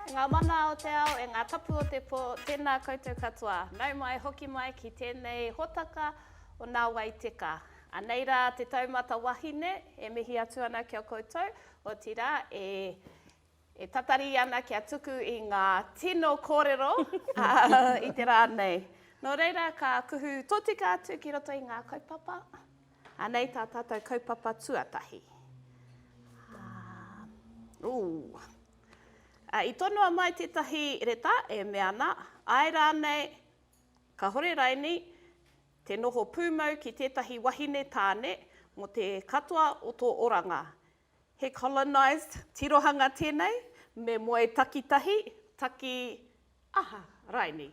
Ngā mana o te ao e ngā tapu o te pō, tēnā koutou katoa. Nau mai, hoki mai ki tēnei hōtaka o Nā Wai Teka. Anei rā te taumata wahine e mihi atu ana ki a koutou, otirā e E tatari ana kia tuku i ngā tino kōrero i te rā nei. Nō reira, ka kuhu tōtika atu ki roto i ngā kaupapa. Anei tā tātou kaupapa tuatahi. Ā, i tonoa mai tētahi reta e mea ana, āe rānei, kāhore raini te noho pūmau ki tētahi wahine tāne mō te katoa o tō oranga. He colonised tirohanga tēnei, me moe takitahi, taki aha, raini.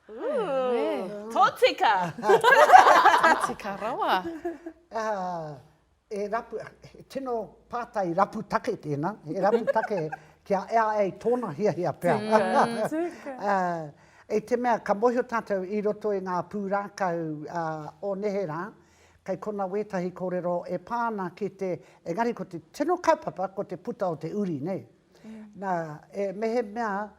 Ooh, tōtika! Tōtika rawa. E rapu, he tino pātai rapu take tēnā, he rapu take kia ea ai tōna hiahia pea. Tūka. I te mea ka mōhio tātou i roto i ngā pūrākau o neherā, Kei konā wētahi kōrero e pā ana ki te, engari ko te tino kaupapa ko te puta o te uri, nei. Nā, e mehemea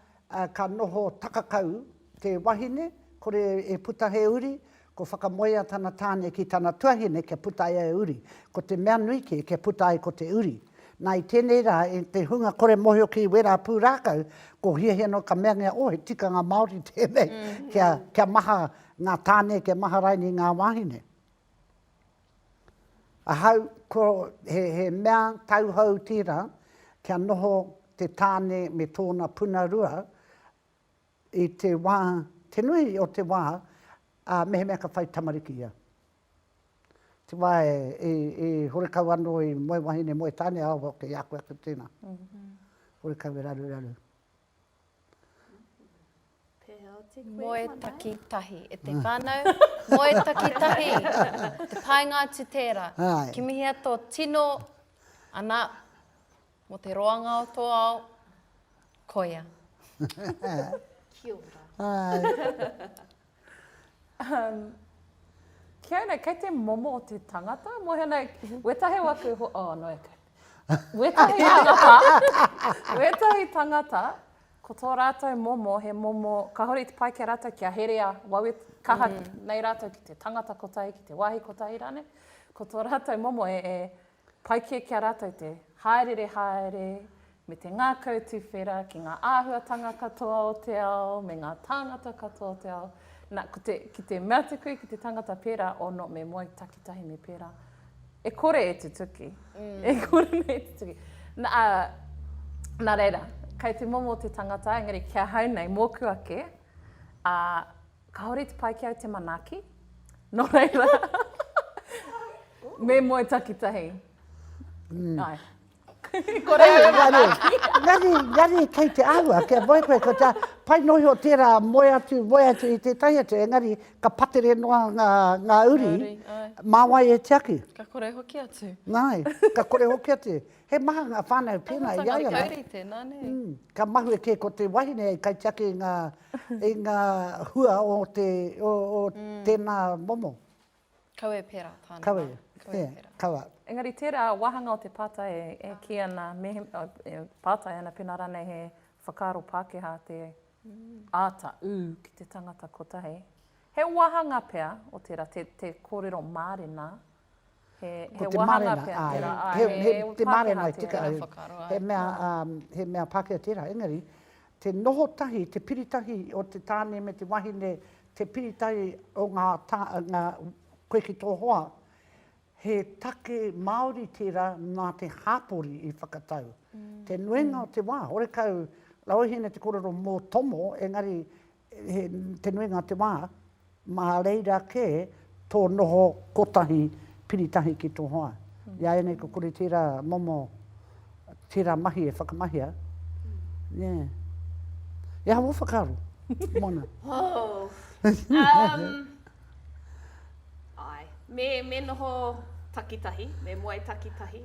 ka noho takakau te wahine, kore e puta he uri, ko whakamoea tana tāne ki tana tuahine kia puta ai e uri. Ko te mea nui kē kia puta ai ko te uri. Nā, i tēnei rā, i te hunga kore mōhio ki wērā pūrākau, ko hiahia noa ka meangia, oh, he tikanga Māori tēnei, kia, kia maha, Nga tane kia maharaini nga wahine. Ahau ko he mea tauhou tira kia noho te tane me tona puna rua i te wa, te nui o te wa, a mehemea ka whai tamariki ia. Te wa i horekau ano i moe wahine moe tane awa ke i a koe atu tena. Horekau e raruraru. Moe takitahi. E te whanau, moe takitahi. Te painga atu tera. Kimihia to tino ana mo te roanga o to ao, koia. Kia ora. Um, ki au nei, kei te momo o te tangata, mo hana, wetahe wa ku, oh, no e kai. Wetahe tangata, wetahe tangata, ko tō rātou momo, he momo, ka hori te pai ki a rātou kia herea, wawe kaha mm. nei rātou ki te tangata kotahi, ki te wāhi kotahi rāne, ko tō rātou momo e, e Pai kē ki a rātou te hāereere haere me te ngākau tuwhera ki ngā āhuatanga katoa o te ao me ngā tāngata katoa o te ao. Nā, ko te, ki te mea atu koe ki te tangata pērā, oh no, me moe takitahi me pērā, e kore e tutuki, e kore nei e tutuki. Nā, ā, nā reira, kei te momo te tangata, engari ki ahau nei, mōku ake, ā, Kāore te pai ki au te manaaki, nō reira, me moe takitahi. Mm. Ai. Kore au manaaki. Ngari, ngari, kei te ahua, kia moe koe, ko tā, pai nohi o tērā, moe atu, moe atu i tētahi atu, engari, ka patere noa ngā, ngā uri, mā wai e tiaki. Ka kore hoki atu. Nāi, ka kore hoki atu. He maha ngā whānau pēnā i a ia la. Ka mahue kē ko te wahine hei kaitiaki i ngā, i ngā hua o te, o, o tēnā momo. Kawe pērā tāna. Kawe, e, kawa. Engari tērā wāhanga o te pātai e kī ana, me, e pātai ana pēnā rānei he whakaaro Pākehā te āta ū ki te tangata kotahi. He wāhanga pea o tērā te, te kōrero mārena Ko te marena, āe. Te marena e tika ai. He mea Pākehā tērā, engari, te noho tahi, te piri tahi o te tāne me te wahine, te piri tahi o ngā, koe ki tō hoa, he take Māori tērā nā te hāpori i whakatau. Te nuinga o te wā, horekau, Rauhine te kōrero mō Tomo, engari He te nuinga te wā, mā reira kē tō noho kotahi piri tahi ki tō hoa. I a ianei ko kore tērā momo, tērā mahi e whakamahia. Nē. He aha wō whakaaro, Moana? Āe, me noho takitahi, me moe takitahi.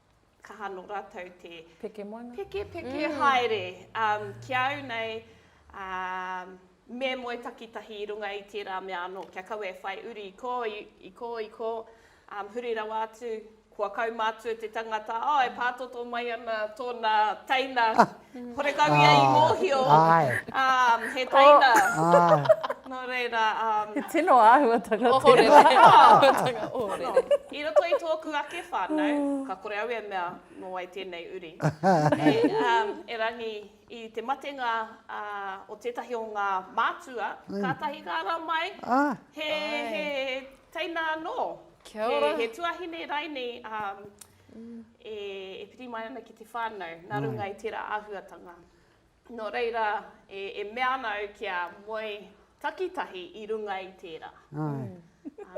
kaha no ratou te peke moana, peke peke mm. haere um, ki au nei, um, me moe takitahi i runga i tērā mea anō, kia kaua e whai uri i ko, i, i ko, i ko, um, huri rawa atu, kua kaumātua te tangata, oh, e pātoto mai ana tōna teina, Horekau ia i mōhio he teina. Nō reira. He tino āhuatanga tērā. Ohorere, he āhuatanga ohorere. I roto i tōku ake whānau, ka kore au e mea nō wai tēnei uri. Erangi i te matenga o tētahi o ngā mātua, kātahi ka ara mai he teina anō. He tuahine raini e piri mai ana ki te whānau nā runga i tērā āhuatanga. Nō reira, e mea ana au kia moe takitahi i runga i tērā,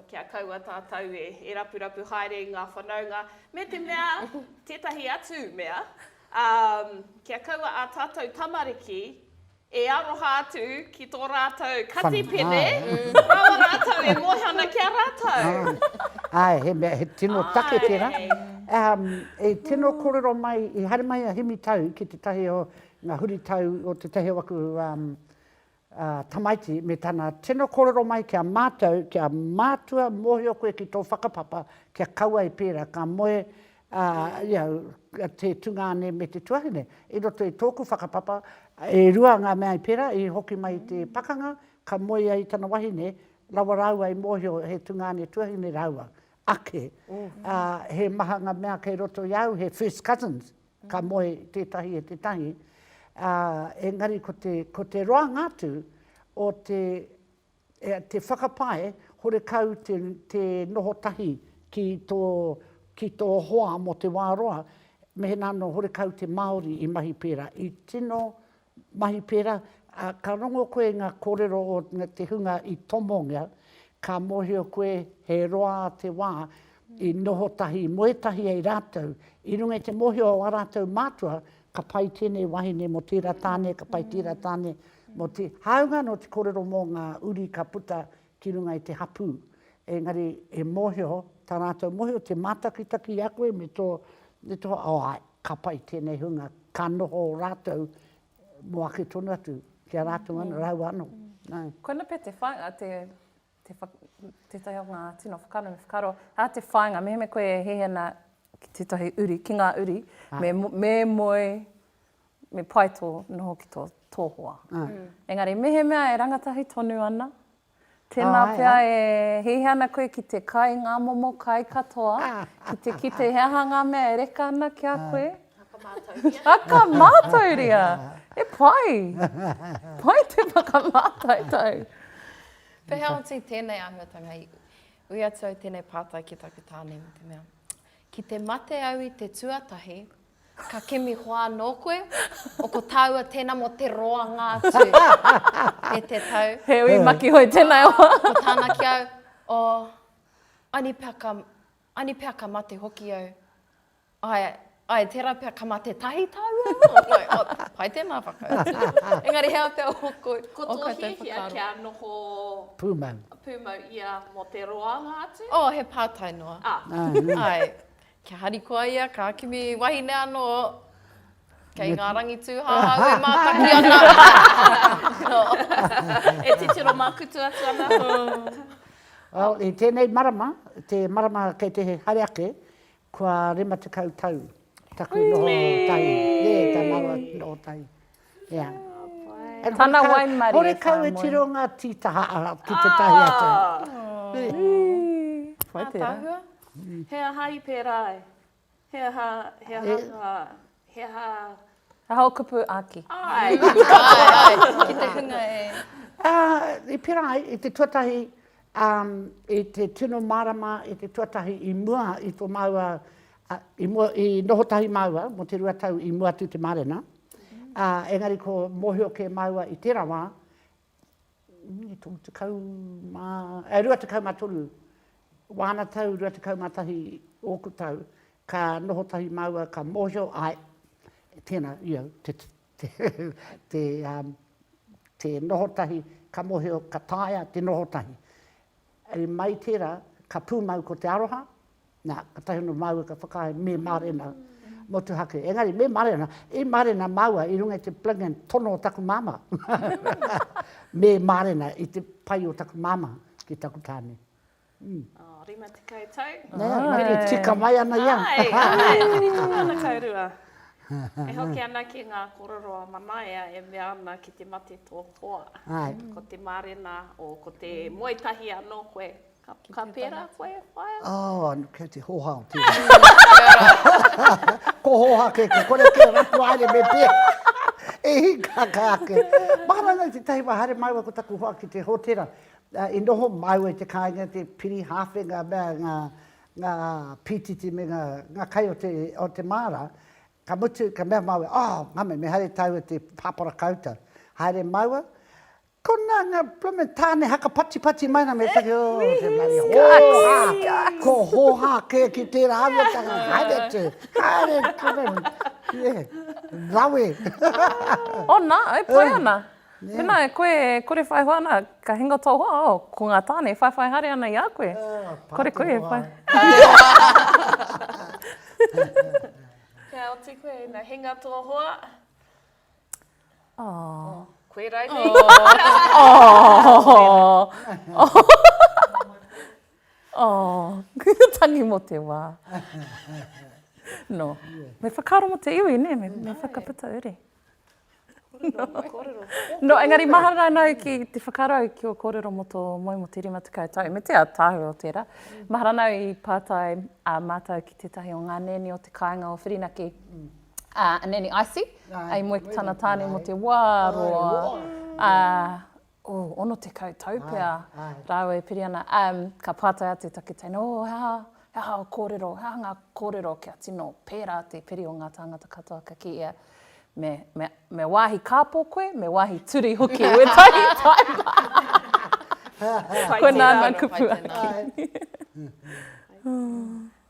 kia kaua tātou e rapurapu haere i ngā whanaunga, me te mea, tētahi atu mea, kia kaua ā tātou tamariki E aroha atu ki tō rātou kati pene, rawa rātou e moe ana ki a rātou. Āe, he mea, he tino take tērā. I tino kōrero mai, i haere mai a Hemi Tau ki tētahi o ngā huritau o tētahi o aku tamaiti me tana tino kōrero mai ki a mātou, ki a mātua, mōhio koe ki tō whakapapa kia kaua e pērā, ka moe ā, i au, te tungāne me te tuahine. I roto i tōku whakapapa, e rua ngā mea i pērā, i hoki mai i te pakanga, ka moe ia i tana wahine, rawa rāua i mōhio he tungāne tuahine rāua ake. Ā, he maha ngā mea kei roto i a au, he first cousins, ka moe tētahi e tētahi. Ā, engari ko te, ko te roanga atu o te, Te whakapae, horekau te noho tahi ki tō, ki tō hoa mō te wā roa, mehena anō horekau te Māori i mahi pērā, i tino mahi pērā, ā, ka rongo koe i ngā kōrero o te hunga i tomongia, ka mōhio koe he roa te wā i noho tahi, i moe tahi ai rātou, i runga i te mōhio o ā rātou mātua Ka pai tēnei wahine mō tērā tāne, ka pai tērā tāne mō te. Hāunga anō te kōrero mō ngā uri ka puta ki runga i te hapū, engari he mōhio, tā rātou mōhio, te mātakitaki i a koe me tō, me tō, oh āe, ka pai tēnei hunga, ka noho rātou mō ake tonu atu, ki a rātou anō, rāua anō. Koina pea te whāinga, te Te wha, tētahi o ngā tino whakaaro, me whakaaro, ā te whāinga, mehemea koe e hihina ki tētahi uri, ki ngā uri, ah. me, me moe, me pai tō noho ki tō, tō hoa. Ah. Mm. Engari, mehemea e rangatahi tonu ana, Tēnā oh, pea e hihi ana koe ki te kai ngā momo kai katoa, ki te kite he aha ngā mea e reka ana ki a koe. Ah. Whakamātauria. Whakamātauria! He pai! Pai te whakamātautau! Pehea oti tēnei āhuatanga i ui atu au tēnei pātai ki taku tāne me te mea, Ki te mate au i te tuatahi, ka kimi hoa anō koe? O ko tāua tēnā mō te roanga atu e te tau. He ui makihoi tēnā e hoa. Ko tāna ki au, Oh, ani pea ka, ani pea ka mate hoki au. Ae, ae, tera pea ka mate tahi taua mo. Oh, pai tena whakautu. Engari he aha pea o koutou whakaaro? Ko to hiahia kia noho pumau, pumau ia mo te roanga atu? Oh, he patai noa. Ah. Ae, kia harikoa ia, ka kimi wahine ano, kei nga rangi tu hahau e mataki ana. E titiro makutu atu ana. Well, i tenei marama, te marama kei te haere ake, Kua rima tekau tau taku noho tahi. Nē, tā māua noho tahi. Ea. Tana waimarie whānui. Horekau e tiro ngā tītaha ki te tahi atu. Whai tērā. Ātaahua. He aha i pērā ai? He aha, he aha ngā. He aha? He aha o kupu āki? Āe! Āe, āe, ki te hunga e. Ā, i pērā ai, i te tuatahi, ā, i te tino marama, i te tuatahi i mua i tō māua, ā, i mua, i noho tahi māua mō te rua tau i mua atu i te mārena, ā, engari ko mōhio kē māua i tērā wā, 23 wāna tau, 21 ōku tau, ka noho tahi māua, ka mōhio, āe, tēnā, you know, te, te, te, te noho tahi, ka mōhio, ka taea te noho tahi. I mai tērā, ka pūmau ko te aroha, nā, kātahi anō māua ka whakaae, me mārena motuhake. Engari, me mārena, i mārena māua i runga i te plingin tono o taku māmā. me mārena i te pai o taku māmā ki taku tāne. Mm. Oh, 50 tau. Nē, oh, tika mai ana ia. Ai, ai, 50 tau rua. E hoki ana ki ngā korero a Manaia e mea ana ki te mate tō hoa. Ko te mārena o ko te moe tahi anō koe. Ka pērā koe, whaea? Oh, kei te hoha o tēnā. Ko hoha kē, ko kore kē, rapu haere me pē. E hika ka ake. Mahara nei tētahi wā haere māua ko taku hoa ki te hōtera. I noho māua i te kāinga, te piri, hāwhe, ngā mea, ngā ngā pītiti me ngā, ngā kai o te, o te māra, ka mutu, ka mea māua, oh, ngame, me haere tāua te pāpara koutou. Haere māua, ko nā ngā blooming tāne haka patipati mai rā, me taki, oh, te bloody hōhā, ko hōhā kē ki tērā auatanga, haere atu, haere, ka mea, yeah, rawe. Oh, nā, e pai ana. Pēnā e koe e kore whai hoa ana, ka hinga tō hoa, oh, ko ngā tāne e whaiwhai haere ana i a koe. Kore koe e whai. Kia oti koe ina hinga tō hoa. Oh. Koe rānei. Oh. Oh. Tangi mō te wā. No. Me whakaaro mō te iwi, nē, me whakaputa uri. No, engari mahara anau ki te whakarau ki o kōrero mo tō moe mo te rima tekau tau, me te ataahua o tērā. Mahara anau i pātai a mātau ki tētahi o ngā nēni o te kāinga o Whirinaki, a Nēni Icy, i moe ki tana tāne mo te wā roa, a, Oh, ono tekau tau pea rāua e piri ana. Umm, ka pātai atu ta kiteina, Oh, he aha, he aha ō kōrero, he aha ngā kōrero kia tino pērā te piri o ngā tāngata katoa? Ka kī ia, Me, me, me wāhi kāpō koe, me wāhi turi hoki wētahi paepa. Koinā nā kupu ake.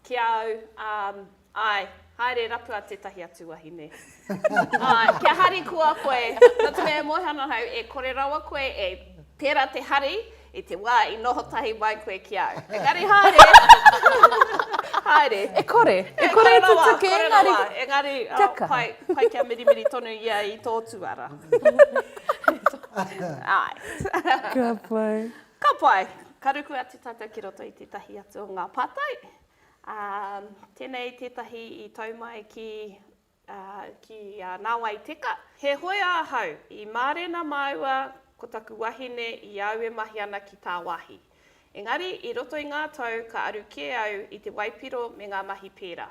Ki a au, um, ae, haere rapua tetahi atu wahine. Ae, kia harikoa koe, nō te mea e moe ana au, e kore rawa koe e pera te hari i te wā i noho tahi mai koe ki au. Engari haere, haere. E kore, e kore te tuke, engari. E kore rawa, engari, oh, pai, pai kia mirimiri tonu ia i tō tuara. Ae. Ka pai. Ka pai! Ka ruku atu tātou ki roto i tētahi atu o ngā pātai. Ā, tēnei tētahi i tau mai ki, ā, ki a Nāwai Teka. Heoi ahau i mārena māua ko taku wahine i au e mahi ana ki tāwāhi. Engari i roto i ngā tau ka aru kē au i te waipiro me ngā mahi pērā.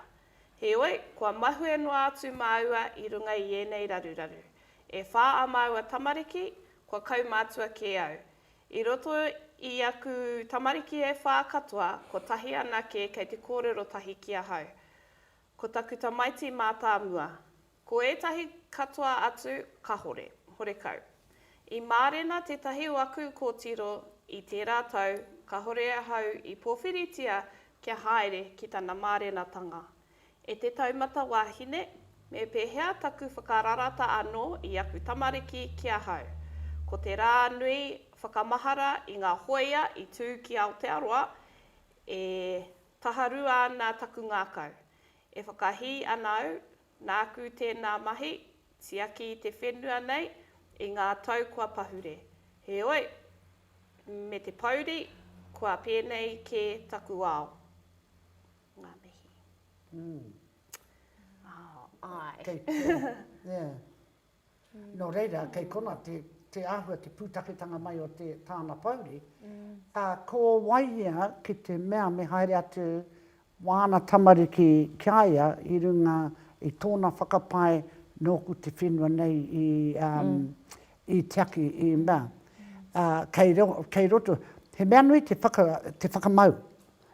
Heoi, kua mahue noa atu māua i runga i ēnei raruraru. E whā ā māua tamariki, kua kaumātua kē au, I roto i aku tamariki e whā katoa, kotahi anake kei te kōrero tahi ki ahau. Ko taku tamaiti mātāmua. Ko ētahi katoa atu, kahore, horekau. I mārena tētahi o aku kōtiro i tērā tau, kahore ahau i pōwhiritia kia haere ki tana mārenatanga. E te taumata wāhine, me pēhea taku whakararata anō i aku tamariki ki ahau? Ko te rā nui whakamahara i ngā hōia i tū ki Aotearoa, e taharua ana taku ngākau. E whakahī ana au, nāku tēnā mahi, tiaki i te whenua nei i ngā tau kua pahure. Heoi, me te pōuri, kua pēnei kē taku ao. ngā mihi. Mm. Oh, ai. Kei, yeah. Mm. Nō reira, mm. kei kona te, te āhua, te pūtaketanga mai o te tāna pouri. Mm. Uh, ko wai ia ki te mea me haere atu wāna tamariki ki a ia i runga i tōna whakapae nōku te whenua nei i, um, mm. i tiaki i mea. Uh, kei, ro, kei roto, he mea nui te, whaka, te whakamau.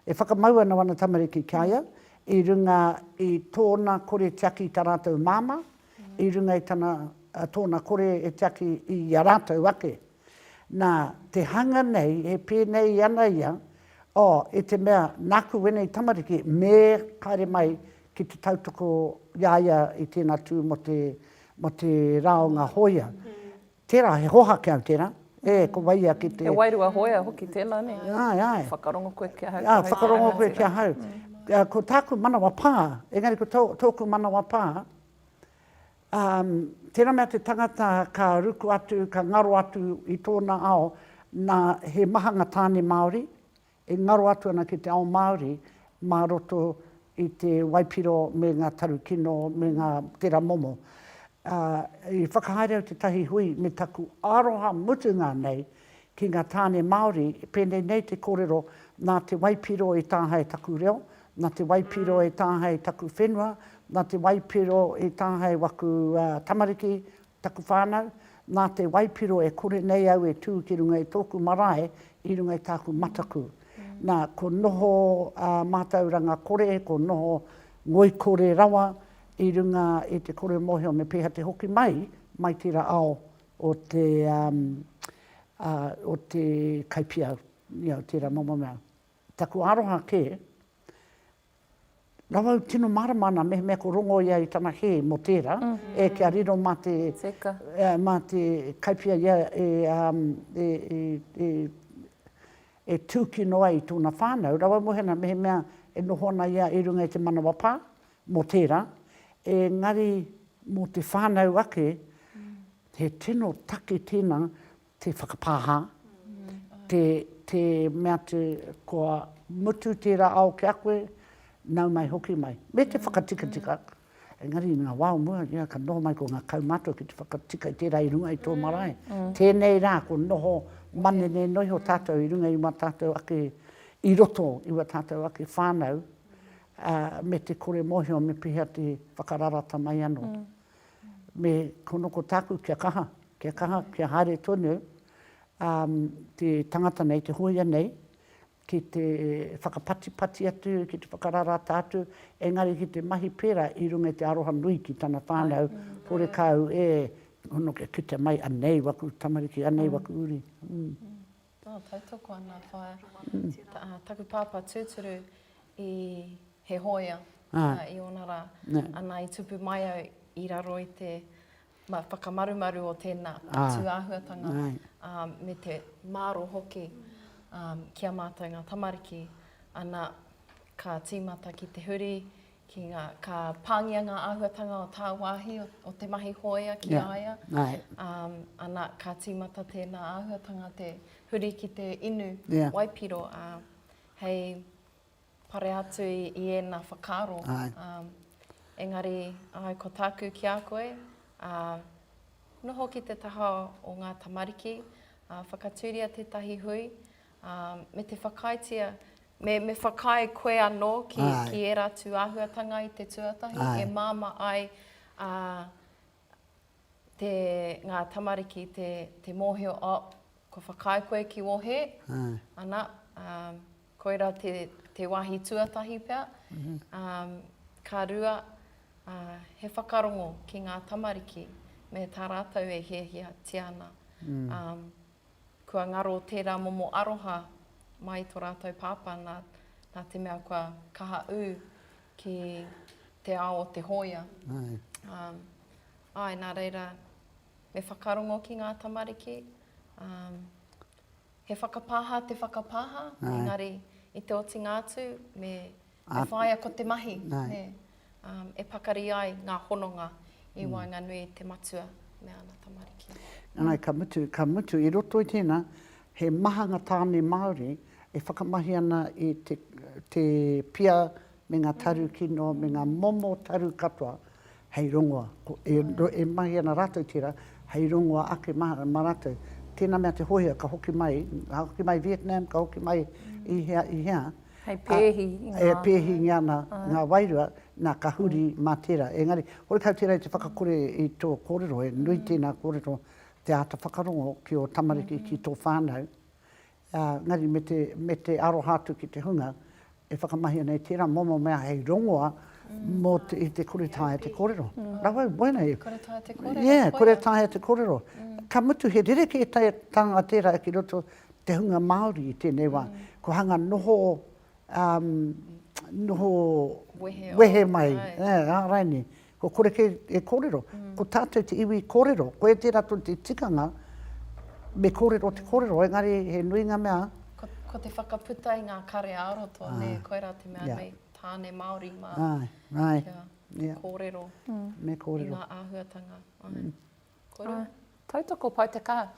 E whakamau ana wana tamariki ki a ia i runga i tōna kore tiaki i tā rātou māmā, i runga i tana, tōna kore e tiaki i a rātou ake. Nā, te hanga nei e pēnei ana ia, oh, i te mea, nāku wēnei tamariki, me haere mai ki te tautoko i a ia i tēnā tū mō te, mō te rā o ngā hōia. Tērā, he hoha kea tērā. E, ko wai ia ki te. He wairua hoea hoki tēnā, nē? Āe, āe. Ka whakarongo koe ki ahau. Āe, whakarongo koe ki ahau. Ko tāku manawa pā, engari ko tōku manawa pā, tērā mea te tangata ka ruku atu, ka ngaro atu i tōna ao, nā, he maha ngā tāne Māori, e ngaro atu ana ki te ao Māori mā roto i te waipiro me ngā tarukino me ngā tera momo. Ā, i whakahaere au tētahi hui me taku aroha mutunga nei ki ngā tāne Māori, pēnei nei te kōrero, nā te waipiro e tāhae taku reo, nā te waipiro e tāhae taku whenua, nā te waipiro e tāhae waku tamariki, Taku whānau, nā te waipiro e kore nei au e tū ki runga i tōku marae, i runga i tāku mataku. Nā, ko noho ā mātauranga kore, ko noho ngoikore rawa i runga i te kore mōhio me pēhea te hoki mai, mai tērā ao o te, ā, o te Kaipiau, i au tērā momo mea. Taku aroha kē. Rawau tino mārama ana mehemea ko Rongo ia i tana kē mō tērā, ē, kia riro mā te, mā te kaiwhia ia e, e, e, e, e tūkino ai i tōna whānau, rawau mohi ana mehemea e noho ana ia i runga i te manawa pā mō tērā, engari mō te whānau ake, he tino take tēnā te whakapāha, te, te mea atu kua mutu tērā ao ki a koe, nau mai hoki mai. Me te whakatikatika, engari i ngā wā o mua, ia, ka noho mai ko ngā kaumātua ki te whakatika i tērā i runga i tō marae. Tēnei rā, ko noho manene noa iho tātou i runga i wā tātou ake, i roto i wā tātou ake whānau, me te kore mōhio me pehea te whakararata mai anō. me ko noko taku kia kaha, kia kaha, kia haere tonu um te tangata nei, te hoia nei, ki te whakapatipati atu, ki te whakararata atu, engari ki te mahi pera i runga i te aroha nui ki tana whanau, horekau e, hono kia kitea mai, anei waku tamariki, anei waku uri. Oh, tautoko ana whaea. Ah, taku pāpā tūturu i, he hōia Ah. ah, i ōna rā. Nē. Ana, i tupu mai au i raro i te ma, whakamarumaru o tēnā Ah. tūāhuatanga Nē. ah, me te māro hoki ah, ki a mātou ngā tamariki. Ana, ka tīmata ki te huri, Ki ngā, ka pāngia ngā āhuatanga o tāwāhi, o te mahi hōia ki a ia. Ana, ka tīmata tēnā āhuatanga te huri ki te inu waipiro hei pare atu i ēnā whakaaro. Engari, āe, ko tāku ki a koe, noho ki te taha o ngā tamariki, whakatūria tētahi hui, Ā, me te whakaaetia, me, me whakaae koe anō ki, Āe. ki ērā atu āhuatanga i te tuatahi Āe. e māmā ai ā, te, ngā tamariki te, te mōhio, ā, kua whakaae koe ki wohe, Āe. ana, ā, koirā te, te wāhi tuatahi pea, ā, ka rua, ā, he whakarongo ki ngā tamariki me tā rātou e hiahiatia ana. Ā, Kua ngaro tērā momo aroha mai tō rātou pāpā nā, nā te mea kua kaha ū ki te ao o te hōia. Āe. Ā, āe, nā reira, me whakarongo ki ngā tamariki, ā, he whakapāha te whakapāha, engari i te otinga atu me He whāia ko te mahi e pakari ai ngā hononga i waenganui i te matua me ana tamariki. Nāi, ka mutu, ka mutu, i roto i tēnā, he maha ngā tāne Māori e whakamahi ana i te pia me ngā taru kino, me ngā momo taru katoa, hei rongoa, ko, e, e mahi ana rātou tērā, hei rongoa ake mā, mā rātou. Tēnā mea te hōhia, ka hoki mai, ka hoki mai Vietnam, ka hoki mai i hea, i hea. Hei pēhi i ngā. E pēhi ngia ana ngā wairua, nā, ka huri mā tērā. Engari, horekau tērā i te whakakore i tō kōrero, he nui tēnā kōrero, te āta whakarongo ki ō tamariki, ki tō whānau, engari me te, me te aroha atu ki te hunga e whakamahia nei tērā momo mea hei rongoa mō te, i te kore taea te kōrero. Rawa i waenga i. Kore taea te kōrero. Yeah, kore taea te kōrero. Ka mutu he rerekē tānga tērā ki roto te hunga Māori i tēnei wā. Kua hanga noho, noho wehe mai, āraini, Kua kore kē e kōrero. Ko tātou te iwi kōrero. Koe tērā tonu te tikanga, me kōrero te kōrero, engari he nui ngā mea. Ko, ko te whakaputa i ngā kare ā-roto, ah. nē, koirā te mea yeah. nei, tāne Māori mā. Ai, ai. Kia yeah. kōrero. Mm. Me kōrero. I ngā āhuatanga. Ai. Mm. Kōrero. Ah. Tautoko pau te kaha.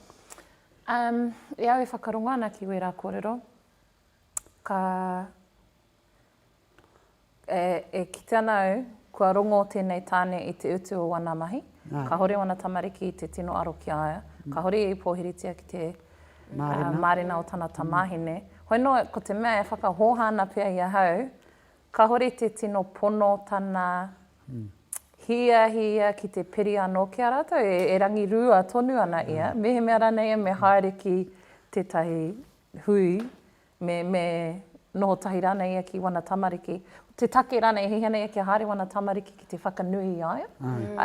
Um, e au e whakarongo ana ki wērā kōrero, ka E kite ana au, kua rongo tēnei tāne i te utu o wana mahi, kahore wana tamariki i te tino aro ki a ia, kahore i pōhiritia ki te mārena o tana tamāhine. Hoi nō, ko te mea e whakahōha ana pea i ahau, kahore te tino pono tana hiahia ki te piri anō ki a rātou, e rangirua tonu ana ia, mehemea ranei ia me haere ki tētahi hui, me, me noho tahi rānei ia ki wana tamariki, te take rānei e hihana ia kia haere wana tamariki ki te whakanui i a ia.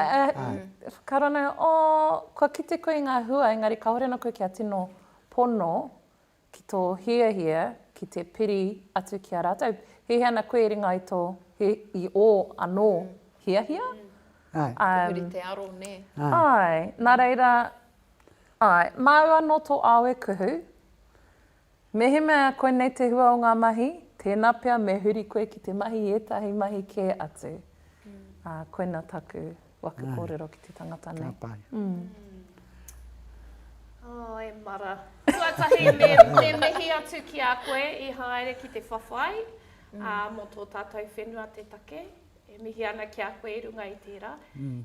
Ae, whakarana, oh, kua kite koe i ngā hua, engari kāore ana koe kia tino pono ki tō hiahia ki te piri atu ki a rātou. Hihia ana koe i ringa i tō, i ō anō hiahia. Ae. Te huri te aro, nē. Ae, nā reira, ae, māu anō tō ao e kuhu, Mehemea koinei te hua o ngā mahi, tēnā pea me huri koe ki te mahi i ētahi mahi kē atu. Ā, koina taku waka kōrero ki te tangata nei. Ka pai. Oh, e Mara. Tuatahi me, me mihi atu ki a koe i haere ki te whawhai, ā, mō tō tātou whenua te take. E mihi ana ki a koe i runga i tērā.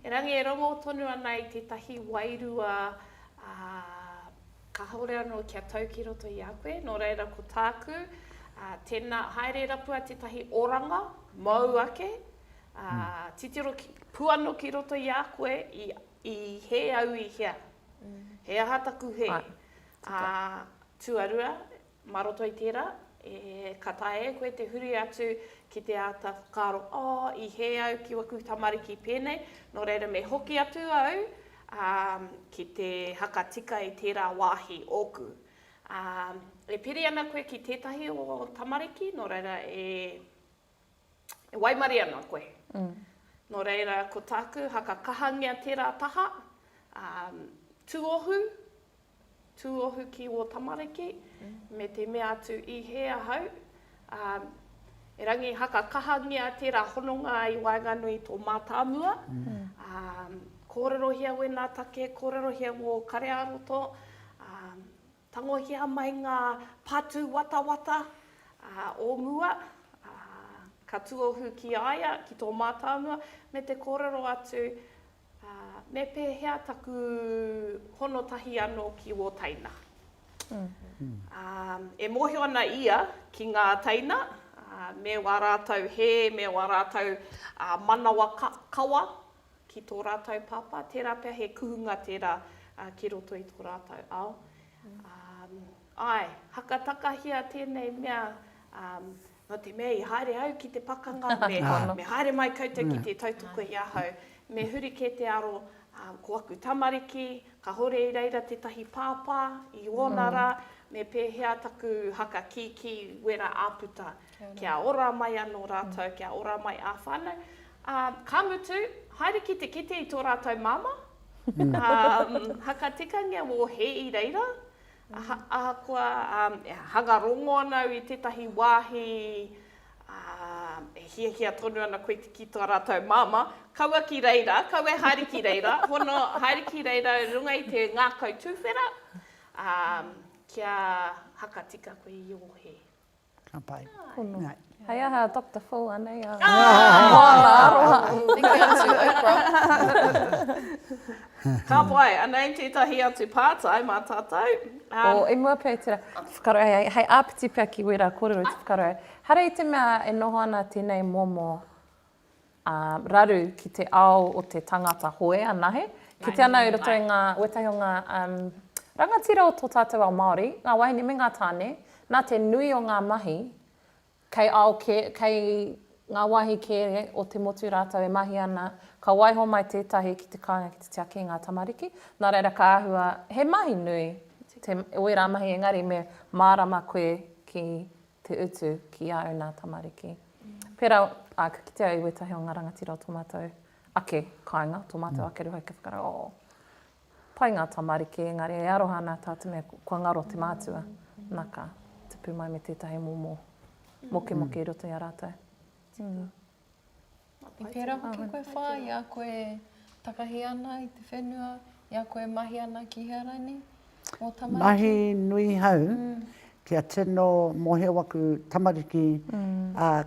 Erangi e rongo tonu ana i tētahi wairua, ā, Kāore anō kia tau ki roto i a koe, nō reira ko tāku, ā, tēnā, haere rapua tētahi oranga, mōu ake, ā, titiro ki, puano ki roto i a koe, i, i hē au i hea? He aha taku hē? Ā, tuarua, Mā roto i tērā, e, ka taea e koe te huri atu ki te āta whakaaro, Oh, i hē au ki waku tamariki pēnei, nō reira me hoki atu au, ā, ki te hakatika i tērā wāhi ōku. Ā, e piri ana koe ki tētahi o tamariki, nō reira e E waimarie ana koe. Nō reira, ko tāku, haka kahangia tērā taha, ā, tuohu, tuohu ki wō tamariki, me te mea atu i hē ahau, ā, erangi haka kahangia tērā hononga i waenganui i tō mātāmua, ā, kōrerohia wēnā take, kōrerohia ngō kare-ā-roto, ā, Tangohia mai ngā patu watawata o mua, ka tuohu ki a ia, ki tō mātau mua, me te kōrero atu, Me pēhea taku hono tahi anō ki wō teina? E mōhio ana ia ki ngā teina, me wā rātau hē, me wā rātau manawa kawa, ki tō rātou pāpā, tērā pea he kuhunga tērā ki roto i tō rātou ao. Āe, haka takahia tēnei mea, nō te mea i haere au ki te pakanga, me haere mai koutou ki te tautoko i ahau, me huri kē te aro ko aku tamariki, kāore i reira tētahi pāpā i ōna rā, me pēhea taku haka kīkī wera āputa, kia ora mai anō rātou, kia ora mai ā whānau, Ā, ka mutu, haere ki te kite i tō rātou māmā, ā, hakatikangia wō hē i reira, aha, ahakoa, ā, e hanga rongō ana au i tētahi wāhi, ā, e hiahia tonu ana koe ki tō rātou māmā, kaua ki reira, kaua e haere ki reira, hono, haere ki reira runga i te ngākau tūwhera, ā, kia hakatika koe i ō hē. Ka pai. Pono. Ngai. Hei aha a Doctor Phil anei a. Moana aroha. Tiki atu Oprah. Ka pai, anei tētahi atu pātai mā tātou. Oh, i mua pea i tērā. Whakaaro, hei, hei āpiti pea ki wērā kōrero te whakaaro. Hara i te mea e noho ana tēnei momo ā, raru ki te ao o te tangata hoe anahe, kite ana i roto i ngā, wētahi o ngā, um, rangatira o tō tātou ao Māori, ngā wāhine me ngā tāne, nā te nui o ngā mahi, kei ao kē, kei ngā wāhi kē o te motu rātou e mahi ana, ka waiho mai tētahi ki te kāinga ki te tiaki i ngā tamariki, nā reira ka āhua he mahi nui te, wērā mahi engari me mārama koe ki te utu ki au nā tamariki. Pērā āku kitea i wētahi o ngā rangatira o tō mātou ake kāinga, tō mātou ake rūhai kia whakarau, oh, pai ngā tamariki, engari e aroha ana tā te mea kua ngaro te mātua, nā ka tipu mai me tētahi momo mokemoke i roto i a rātou. I pērā hoki koe whāi, i a koe takahi ana i te whenua, i a koe mahi ana ki hea rānei mō tamariki? Mahi nui hau kia tino mōhio aku tamariki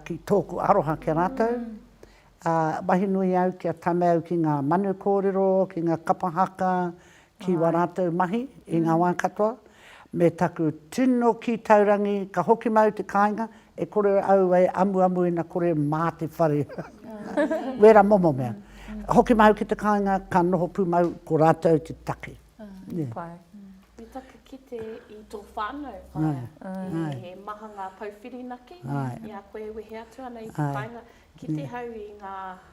ki tōku aroha ki a rātou. Mahi nui au kia tame au ki ngā manu kōrero, ki ngā kapa haka, Ki wā rātou mahi i ngā wā katoa, me taku tino kī taurangi ka hoki māu te kāinga, e kore au e amuamu ina kore mā te whare wera momo mea. Hoki māu ki te kāinga ka noho pū māu ko rātou te take. Pai. Me taku kite i tō whānau, whaea, he maha ngā pou whirinaki i a koe e wehe atu ana i te kāinga, kite hau i ngā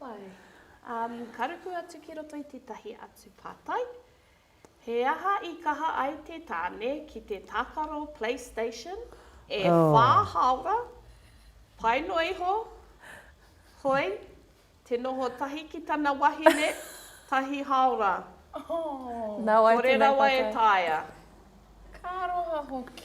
Wai. Um, ka ruku atu ki roto i tētahi atu pātai. He aha i kaha ai te tāne ki te tākaro PlayStation e oh. whā haora, pai noa iho, hoi, te noho tahi ki tana wahine, tahi haora. Oh. Nā wai Kore rawa e tāia. Ka roha hoki.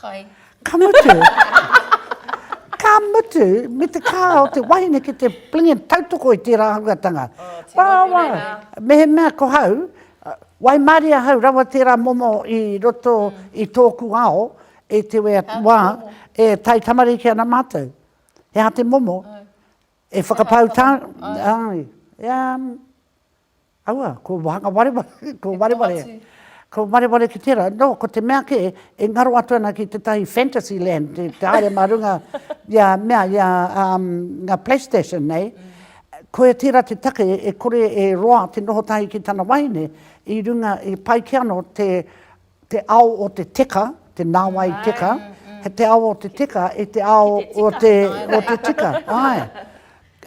Kai. Ka mutu, ka mutu me te kā o te wahine ki te plinge tautoko i tērā ahuatanga. Rawa, mehemea ko hau, waimarie ahau rawa tērā momo i roto i tōku ao, e te wea wā, e tai tamariki ana mātou. He aha te momo? E whakapau tāu, āe, ea, Aua, ko Wahanga Wareware, ko Wareware, ko Wareware ki tērā. Nō, ko te mea kē, e ngaro atu ana ki tētahi fantasy land, te, te haere mā runga i a, mea, i a, um, ngā Playstation nei, koia tērā te take e kore e roa te noho tahi ki tana wahine, i runga, i pai kē anō te, te ao o te teka, te nāwai teka, he te ao o te teka i te ao o te tika, āe.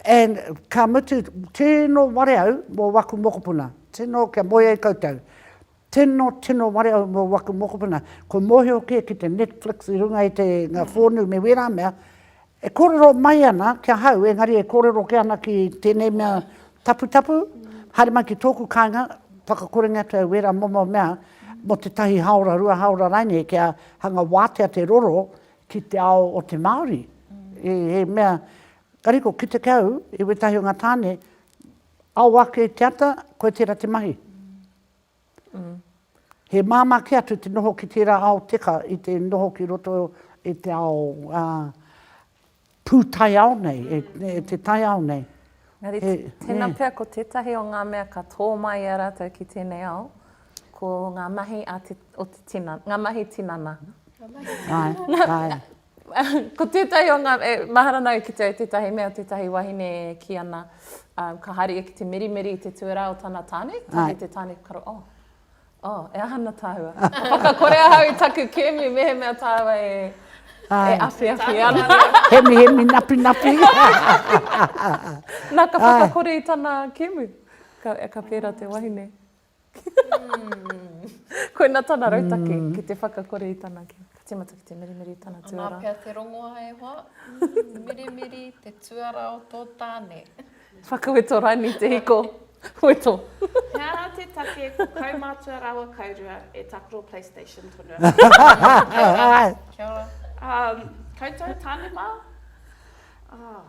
And ka mutu, tino ware au mō waku mokopuna, tino kia moe ai koutou, tino, tino ware au mō waku mokopuna, kua mōhio kē ki te Netflix i runga i te, ngā whōnū me wērā mea, E kōrero mai ana ki ahau, engari e kōrero kē ana ki tēnei mea taputapu, haere mai ki tōku kāinga, whakakorenga atu au wērā momo mea mō tētahi hāora, rua hāora rānei kia hanga wātea te roro ki te ao o te Māori. He mea kariko, ki te kau i wētahi o ngā tāne, ao ake te ata, koe tērā te mahi. He māmā kē atu te noho ki tērā ao teka i te noho ki roto i te ao pūtaiao nei, e te taiao nei. Engari, tēnā pea ko tētahi o ngā mea ka tō mai i a rātou ki tēnei ao, ko ngā mahi o te tinana, ngā mahi tinana. Ngā mahi tinana. Āe, āe. Ko tētahi o ngā, e, mahara nāu ki te au tētahi mea, tētahi wahine e kī ana, um, ka haere ia ki te mirimiri i te tuarā o tana tāne, kohi Ai. te tāne karo, oh, oh, e aha ana tāua? Whakakore ahau i taku kēmu mehemea tāua e, Ai. e awhiawhi ana. Hemihemi napinapi. Nā, ka Ai. whakakore i tana kēmu, ka, ka pērā te wahine. Koina tana rautaki, ki te whakakore i tana kī. Ka tīmata ki te mirimiri i tana tuarā. Anā pea te rongoa e hoa, mirimiri te tuarā o tō tāne. Whakaweto Raini te hiko, weto. He ara te take ko kaumātua rāua kaurua e takoro playstation tonu ana. Kia ora. Kia ora. Koutou tāne mā? Oh.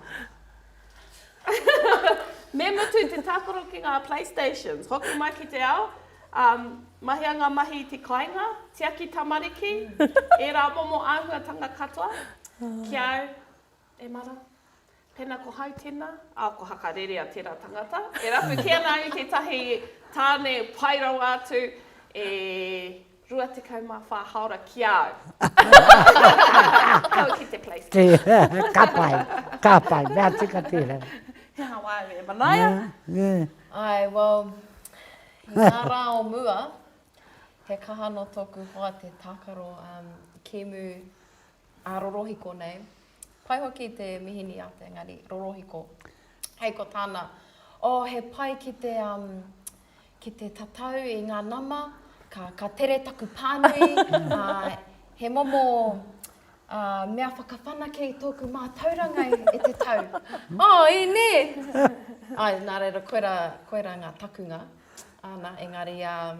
Me mutu te tākaro ki ngā playstations. Hoki mai ki te ao, mahia ngā mahi i te kāinga, tiaki tamariki, ērā momo āhuatanga katoa. Ki a au, e mara, pēnā ko Hau tēnā, ā, ko Hakarerea tērā tangata, e rapu kē ana au i tētahi tāne pai rawa atu e. 24 haora ki a au. Kau ki te place tēnā. Ka pai, ka pai, mea tika tērā. He aha wā au e manaia? Āe, well, i ngā rā o mua, he kaha nō tōku hoa te tākaro kēmu. A rorohiko nei. Pai hoki te mihini a te engari rorohiko. Hei ko tana, oh he pai ki te um ki te tatau i nga nama, ka ka tere taku panui, uh he momo uh mea whakawhanake i toku matauranga e te tau. Oh i ne! Ai na reira koira koira nga takunga. Ana engari um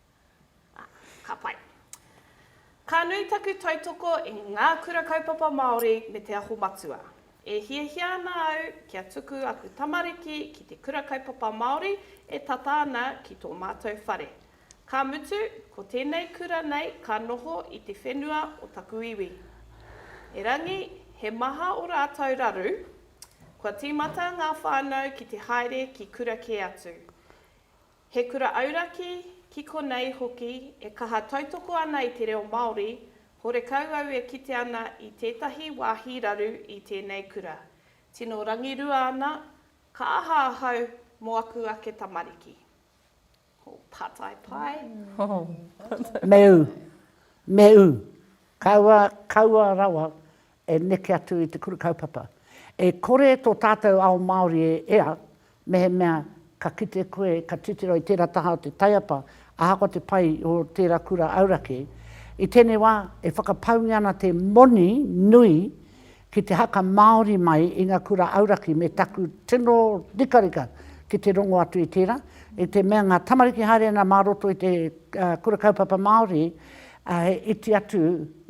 Ā, ka pai. Ka nui taku tautoko i ngā Kura Kaupapa Māori me Te Aho Matua. E hiahia ana au kia tuku aku tamariki ki te Kura Kaupapa Māori e tata ana ki tō mātou whare. Ka mutu, ko tēnei kura nei ka noho i te whenua o taku iwi. Erangi, he maha o rātou raru, kua tīmata ngā whānau ki te haere ki kura kē atu. He kura auraki, ki konei hoki e kaha tautoko ana i te reo Māori, horekau au e kite ana i tētahi wāhi raru i tēnei kura. Tino rangirua ana, ka aha ahau mō aku ake tamariki? Ho, pātai pai. Me ū, me ū, kaua, kaua rawa E neke atu i te kura kaupapa. E kore tō tātou ao Māori e ea, mehemea ka kite koe ka titiro i tērā taha o te taiapa, ahakoa te pai o tērā kura auraki. I tēnei wā, e whakapaungia ana te moni nui ki te haka Māori mai i ngā kura auraki me taku tino rikarika ki te rongo atu i tērā, i te mea ngā tamariki haere ana mā roto i te kura kaupapa Māori, Ā, he iti atu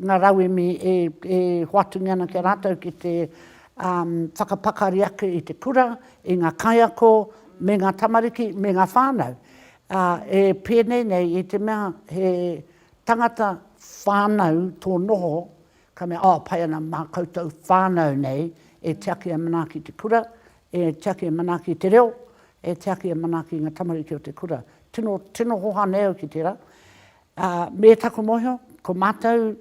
ngā rauemi e, e hoatu nei ana ki a rātou ki te, ā, whakapakari ake i te kura, i ngā kaiako, me ngā tamariki, me ngā whānau. Ā, e pēnei nei i te mea he tangata whānau tō noho, ka mea, Oh, pai ana mā koutou whānau nei e tiaki e manaaki te kura, e tiaki e manaaki te reo, e tiaki e manaaki ngā tamariki o te kura. Tino, tino hoha nei au ki tērā. Ā, me taku mōhio, ko mātou,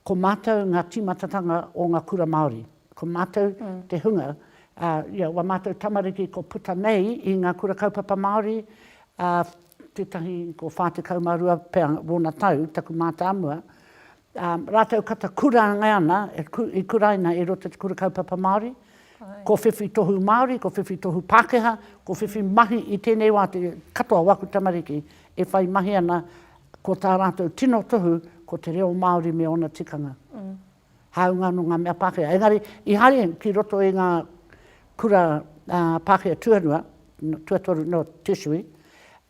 ko mātou ngā tīmatatanga o ngā kura Māori. Ko mātou te hunga, ā, you know, wā mātou tamariki ko puta nei i ngā kura kaupapa Māori, ā, tētahi ko 42 pea wōna tau, taku mātāmua, ā rātou kata kurangai ana, i kuraina i roto i te Kura Kaupapa Māori, ko whiwhi tohu Māori, ko whiwhi tohu Pākehā, ko whiwhi mahi i tēnei wā te katoa o aku tamariki e whai mahi ana, ko tā rātou tino tohu ko te reo Māori me ōna tikanga, hāunga nō ngā mea Pākehā. Engari, i haere ki roto i ngā kura Pākehā tuarua, tuatoru, no, tertiary,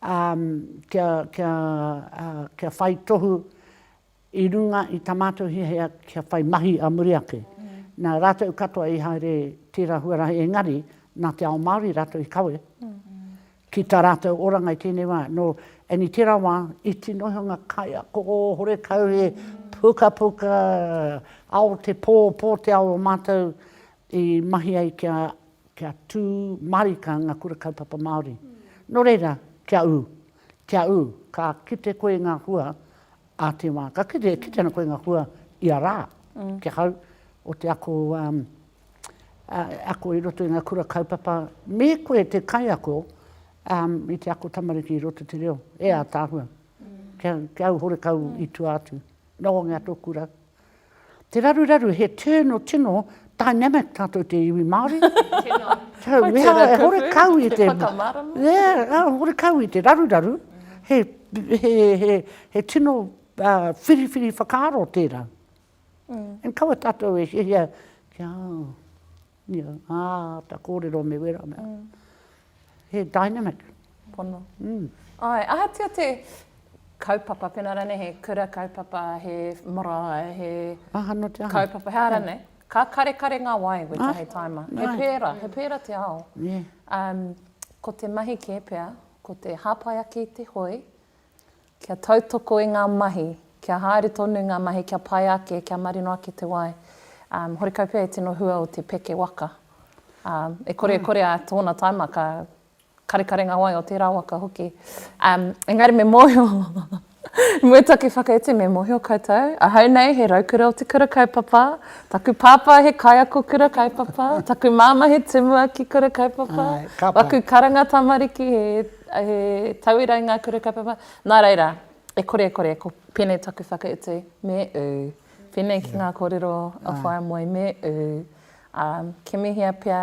kia, kia, kia whai tohu I runga i tā mātou hiahia kia whai mahi a muri ake, nā rātou katoa i haere tērā huarahi engari nā te ao Māori rātou i kawe ki tā rātou oranga i tēnei wā. Nō and i tērā wā, iti noa iho ngā kaiako horekau he pukapuka ao te pō, pō te ao o mātou i mahi ai kia, kia tū mārika ngā kura kaupapa Māori. Nō reira, kia ū. Kia ū, ka kite koe i ngā hua a te wā. Ka kite, e kite ana koe i ngā hua ia rā, kia hau, o te ako, ā, ako i roto i ngā kura kaupapa. Me koe te kaiako, ā, i te ako tamariki i roto i te reo, e ātaahua. Kia, kia au horekau i tua atu. Noho ngia tōku rau. Te raruraru, he tūrno tino dynamic tātou te iwi Māori. Tino. Wai te rā kau i te whakamarama. Yeah, hore kau i te raruraru, he, he, he, he tino uh, whiriwhiri whakaaro tērā. Mm. And kawa tātou e hihia, kia, Ia, ā, ta kōrero me wera mea. He dynamic. Pono. Āe, ahatia te kaupapa, pēnā rānei he kura kaupapa, he marae, he kaupapa, he aha rānei, ka karekare ngā wai wētahi taima. He pērā, he pērā te ao. Ko te mahi kē pea, ko te hāpai ake i te hoe. Kia tautoko i ngā mahi, kia haere tonu ngā mahi, kia pai ake, kia marino ake te wai. Horekau pea e tino hua o te peke waka. E kore e kore a tōna taima ka karekare ngā wai o tērā waka hoki. Engari me mōhio, mua taku whakaute me mōhio koutou, ahau nei he raukura o te kura kaupapa, taku pāpā he kaiako kura kaupapa, taku māmā he tumuaki kura kaupapa, waku karanga tamariki he. He tauira i ngā kura kaupapa. Nā reira, e kore e kore, ko pēnei taku whakautu, me ū. Pēnei ki ngā kōrero a Whaea Moe, me ū. Ā, kimihia pea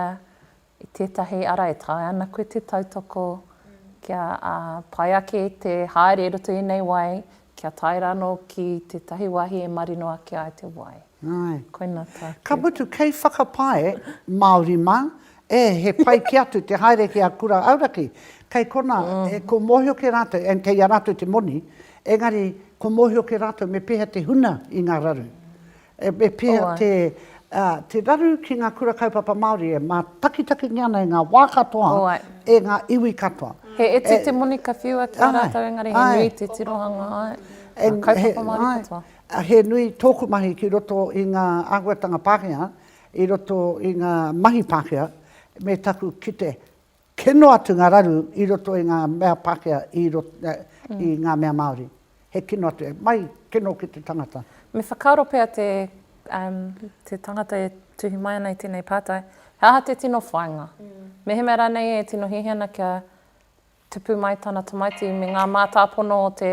i tētahi ara e taea ana koe te tautoko kia pai ake te haere i roto i ēnei wai, Kia tae rano ki tetahi wahi e marino ake ai te wai. Ae. Koina taku. Ka mutu kei whakapae, Maori ma, e he pai ki atu te haere ki a kura auraki. Kei kona, e ko mohio ke ratou, and kei a ratou te moni, engari ko mohio ke ratou me peha te huna i nga raru. E pēhea te raru ki ngā Kura Kaupapa Māori e mātakitakingia ana e ngā wā katoa, e ngā iwi katoa? He iti te moni ka whiua ki a rātou engari he nui te tirohanga ai ngā kaupapa Māori katoa. He nui tōku mahi ki roto i ngā āhuatanga Pākehā, i roto i ngā mahi Pākehā me taku kite Kino atu ngā raru i roto i ngā mea Pākehā i roto i ngā mea Māori. He kino atu, he mahi kino ki te tangata. Me whakaaro pea te te tangata e tuhi mai ana i tēnei pātai, he aha te tino whāinga? Mehemea rānei e tino hiahia ana kia tupu mai tana tamaiti me ngā mātāpono o te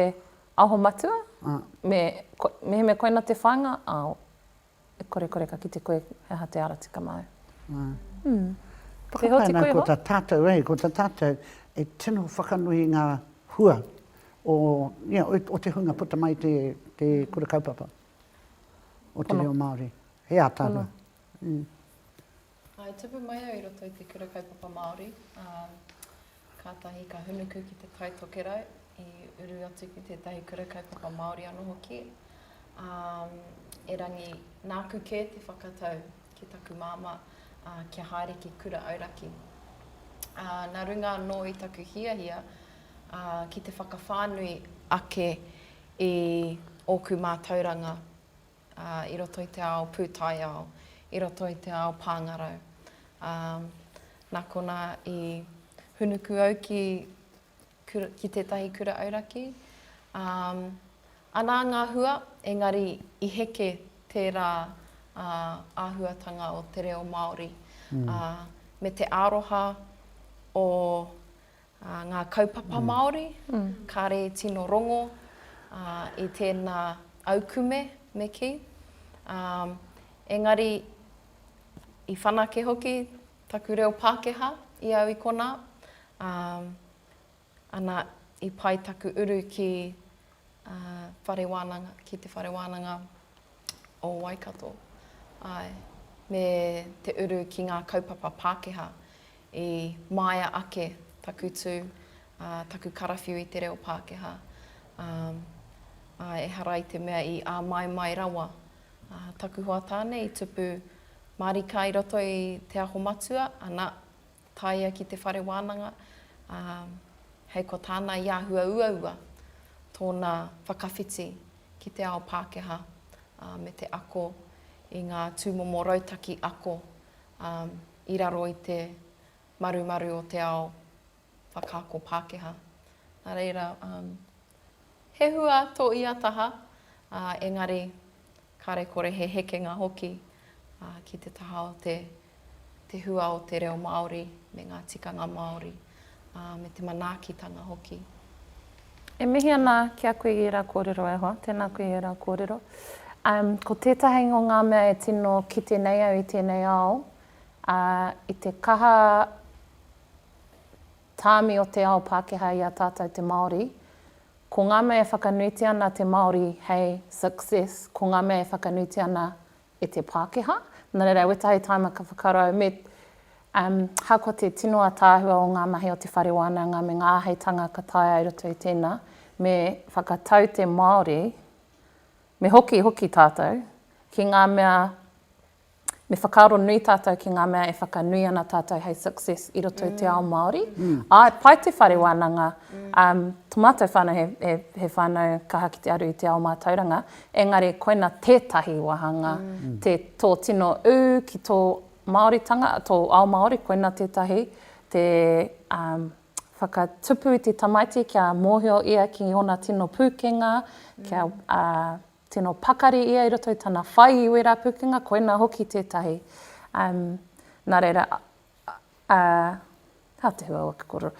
Aho Matua, me mehemea koina te whāinga, ao. E kore kore ka kite koe he aha te ara tika māu. Ā. Ū. Whakapae ana ko tā tātou e, ko tā tātou e tino whakanui i ngā hua o, ia, o te hunga puta mai i te kura kaupapa o te reo Māori. He ātaahua. Ū. I tupu mai au i roto i te Kura Kaupapa Māori, ā, kātahi ka hunuku ki te Tai Tokerau, i uru atu ki tētahi Kura Kaupapa Māori anō hoki. Ā, erangi, nāku kē te whakatau ki taku māmā, ā, kia haere ki Kura Auraki. Ā, nā runga anō i taku hiahia, ā, ki te whakawhānui ake i ōku mātauranga, ā, i roto i te ao pūtaiao, i roto i te ao pāngarau. Ā, nā konā i hūnuku au ki, ki tētahi kura auraki, ā, anā ngā hua, engari i heke tērā ā, āhuatanga o te reo Māori, ā, me te aroha o Ā, ngā kaupapa Māori, kāre i tino rongo, ā, i tēnā aukume me kī. Ā, engari, i whanake hoki taku reo Pākehā i au i konā, ā, ana, i pai taku uru ki whare wānanga, ki te whare wānanga o Waikato, āe, me te uru ki ngā kaupapa Pākehā i māia ake taku tū, ā, taku karawhiu i te reo Pākehā. Ā, ā, ehara i te mea i āmaimai rawa ā, taku hoa tāne i tupu mārika i roto i Te Aho Matua, ana, Tāia ki te whare wānanga, ā, hei ko tāna i āhua uaua tōna whakawhiti ki te ao Pākehā, ā, me te ako i ngā tūmomo rautaki ako, ā, i raro i te marumaru o te ao whakaako Pākehā. Nā reira, ā, he hua tō ia taha, ā, engari Kāre kore he hekenga hoki ki te taha o te hua o te reo Māori me ngā tikanga Māori, me te manaakitanga hoki. E mihi ana ki a koe i ērā kōrero e hoa. Tēnā koe i ērā kōrero. Ko tētahi o ngā mea e tino kite nei au i tēnei ao, i te kaha tāmi o te ao Pākehā i a tātou te Māori, Ko ngā mea e whakanuitia ana te Māori hei success, ko ngā mea e whakanuitia ana e te Pākehā. Nā reira, wētahi tāima ka whakarau, me, um, hakoa te tino ataahua o ngā mahi o te whare wānanga me ngā āheitanga ka taea i roto i tēnā, me whakatau te Māori, me hoki hoki tātou ki ngā mea Me whakaaro nui tātou ki ngā mea e whakanui ana tātou hei success i roto i te ao Māori. Āe, pai te whare wānanga, tō mātou whānau he, he, he whānau kaha ki te aru i te ao mātauranga, engari koina tētahi wāhanga, te, tō tino ū ki tō Māoritanga, tō ao Māori, koina tētahi, te whakatupu i te tamaiti kia mōhio ia ki ōna tino pūkenga, kia, Tino pakari ia i roto i tana whai i wera pukenga koina hoki tetahi um na reira uh ha te hua o ke korero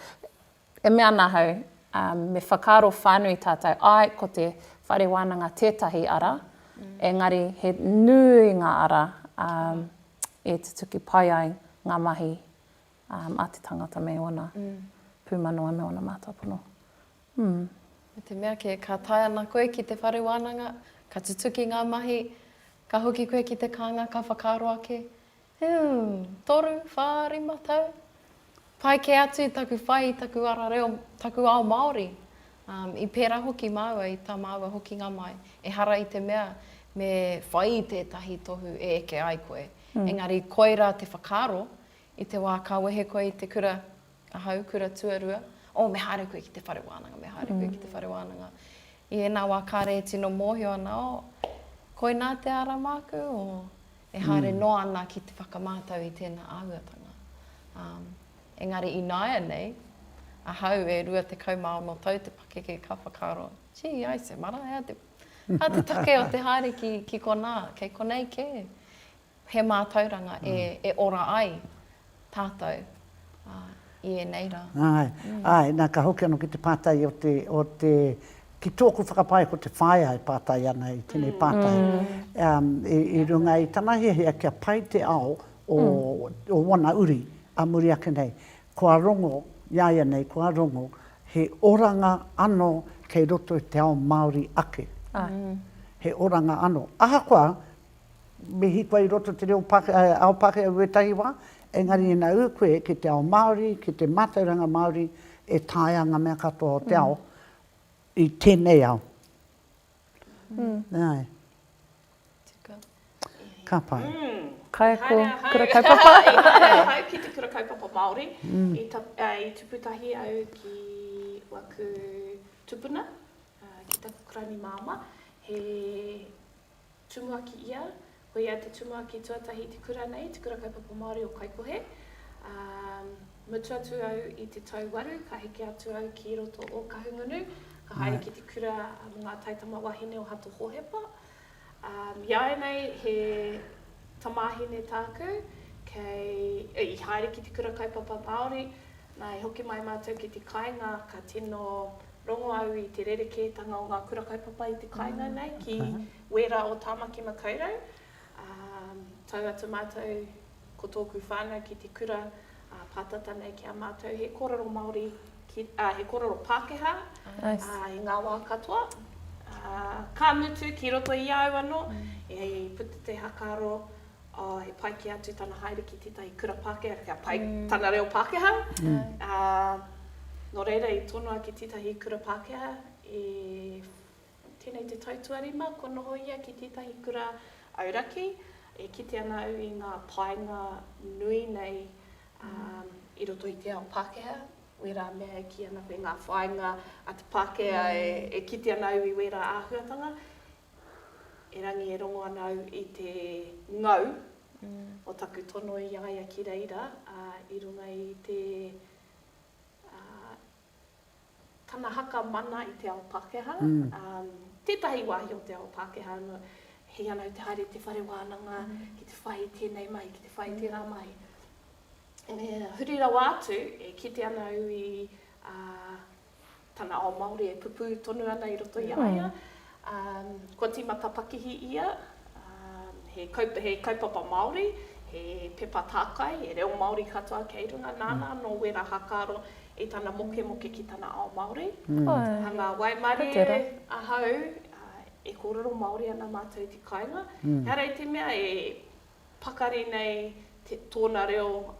e mea ana ahau um me whakaaro whanui tatou ae ko te whare wananga tetahi ara engari he nui nga ara um e tutuki pai ai nga mahi um a te tangata me ona pumanawa me ona matopono. Humm, me te mea kē, ka tae ana koe ki te whare wānanga, ka tutuki ngā mahi, ka hoki koe ki te kānga, ka whakaaro ake, Humm, toru, whā, rima tau? Pai kē atu taku whai i taku ara reo, taku ao Māori. Umm, i pērā hoki māua i tā māua hokinga mai, ehara i te mea me whai i tētahi tohu e eke ai koe, engari koirā te whakaaro, i te wā ka wehe koe i te kura, Ahau, kura tuarua, oh, me haere koe ki te whare wānanga, me haere koe ki te whare wānanga. I ēnā wā kāre e tino mōhio ana, oh, koinā te ara māku, oh, e haere mm. noa ana ki te whakamātau i tēnā āhuatanga. Um, engari i nāia nei, ahau e rua te kau mā ono tau te pakeke ka whakaro, gee, ai se mara, ea te, a te take o te haere ki, ki konā, kei konei kē. He mātauranga e ora ai tātou i ēnei rā. Āe, āe, nā ka hoki anō ki te pātai o te, o te, ki tōku whakapae ko te whaea e pātai ana i tēnei pātai. I runga i tana hiahia kia pai te ao o ōna uri ā muri ake nei, kua rongo, iāianei kua rongo, he oranga anō kei roto i te ao Māori ake. He oranga anō. Ahakoa, Me hiko i roto te reo ao Pākehā i wētahi wā, engari ina ū koe ki te ao Māori, ki te mātauranga Māori, e taea ngā mea katoa o te ao i tēnei ao. Nā. Ka pai. Kaiako kura kaupapa. I haere ahau ki te kura kaupapa Māori. I tupu tahi au ki waku tupuna, ki taku karani māmā, he. Tumuaki ia, ko ia te tumuaki tuatahi i te kura nei, te Kura Kaupapa Māori o Kaikohe, ā, mutu atu au i te tau waru, ka heke atu au ki roto o Kahungunu, ka haere ki te kura mō ngā taitama wāhine o Hato Hōhepa. Ā, iāianei he tamāhine tāku, kei, i haere ki te Kura Kaupapa Māori, Nā, i hoki mai mātou ki te kāinga, ka tino rongo au i te rerekētanga o ngā kura kaupapa i te kāinga nei ki wērā o Tāmaki Makaurau. Ā, tau atu mātou ko tōku whānau ki te kura pātata nei ki a mātou, he kōrero Māori, ā, he kōrero Pākehā i ngā wā katoa. Ā, ka mutu ki roto i a au anō, i puta te haka aro ā, he pai kē atu tana haere ki tētahi kura Pākehā, kia pai tana reo Pākehā. Ā, nō reira i tonoa ki tētahi kura Pākehā i tēnei te tau tuarima kua noho ia ki tētahi kura auraki. E kite ana au i ngā painga nui nei i roto i te ao Pākehā, wērā mea e kī ana koe ngā whāinga a te Pākehā e kite ana au i wērā āhuatanga. Erangi e rongo ana au i te ngau o taku tono i a ia ki reira, a, i runga i te, a, tana haka mana i te ao Pakeha, a, tetahi wahi o te ao Pakeha ano, hei ana au te haere i te whare wananga ki te whai i tenei mahi, ki te whai i tera mahi. Huri rawa atu, e kite ana au i, a, tana ao Māori e pupū tonu ana i roto i a ia. Kua tīmata pakihi ia, he kaupapa Māori, he pepa tākai, he reo Māori katoa kei runga, nāna anō wērā hākaro i tana mokemoke ki tana ao Māori. A ngā waimarie ahau, e kōrero Māori ana mātou i te kāinga, ehara i te mea e pakari nei tōna reo